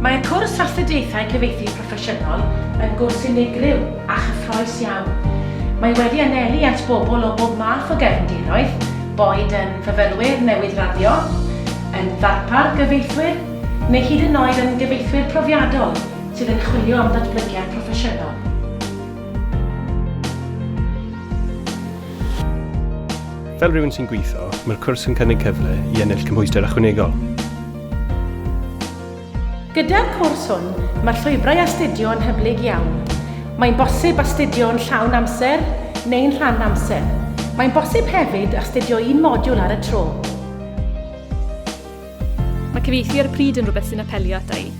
Mae cwrs Astudiaethau Cyfieithu Proffesiynol yn gwrs unigryw a chyffrous iawn. Mae wedi anelu at bobl o bob math o gefndiroedd, boed yn fyfyrwyr newydd raddio, yn ddarpar gyfieithwyr, neu hyd yn oed yn gyfieithwyr profiadol sydd yn chwilio am ddatblygiad proffesiynol. Fel rhywun sy'n gweithio, mae'r cwrs yn cynnig cyfle i ennill cymhwyster ychwanegol. Gyda'r cwrs hwn, mae'r llwybrau astudio yn hyblyg iawn. Mae'n bosib astudio yn llawn amser neu'n rhan amser. Mae'n bosib hefyd astudio un modiwl ar y tro. Mae cyfieithu ar y pryd yn rhywbeth sy'n apelio ata i.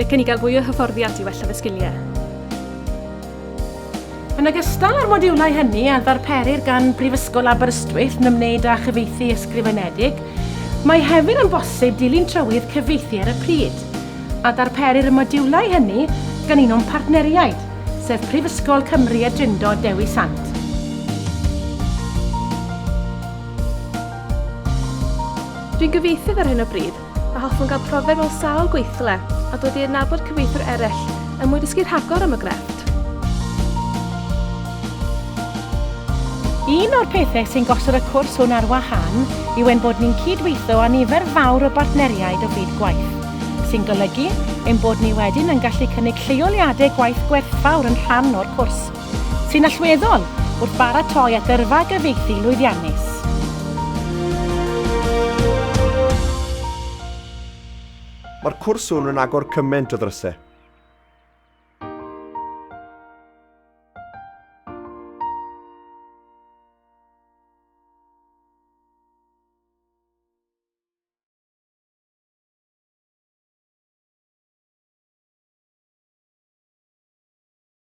Licen i gael fwy o hyfforddiant i wella fy sgiliau. Yn ogystal â'r modiwlau hynny a ddarperir gan Brifysgol Aberystwyth yn ymwneud â chyfieithu ysgrifenedig, mae hefyd yn bosib dilyn trywydd cyfieithu ar y pryd, a darperir y modiwlau hynny gan un o'n partneriaid, sef Prifysgol Cymru a Drindod Dewi Sant. Dwi'n gyfieithydd ar hyn o bryd, a hoffwn gael profiad mewn sawl gweithle a dod i adnabod cyfieithwyr eraill er mwyn dysgu rhagor am y grefft. Un o'r pethau sy'n gosod y cwrs hwn ar wahân yw ein bod ni'n cyd-weithio â nifer fawr o bartneriaid o fyd gwaith, sy'n golygu ein bod ni wedyn yn gallu cynnig lleoliadau gwaith gwerthfawr yn rhan o'r cwrs. sy'n allweddol wrth baratoi at yrfa gyfieithu lwyddiannus. Mae'r cwrs hwn yn agor cymaint o ddrysau.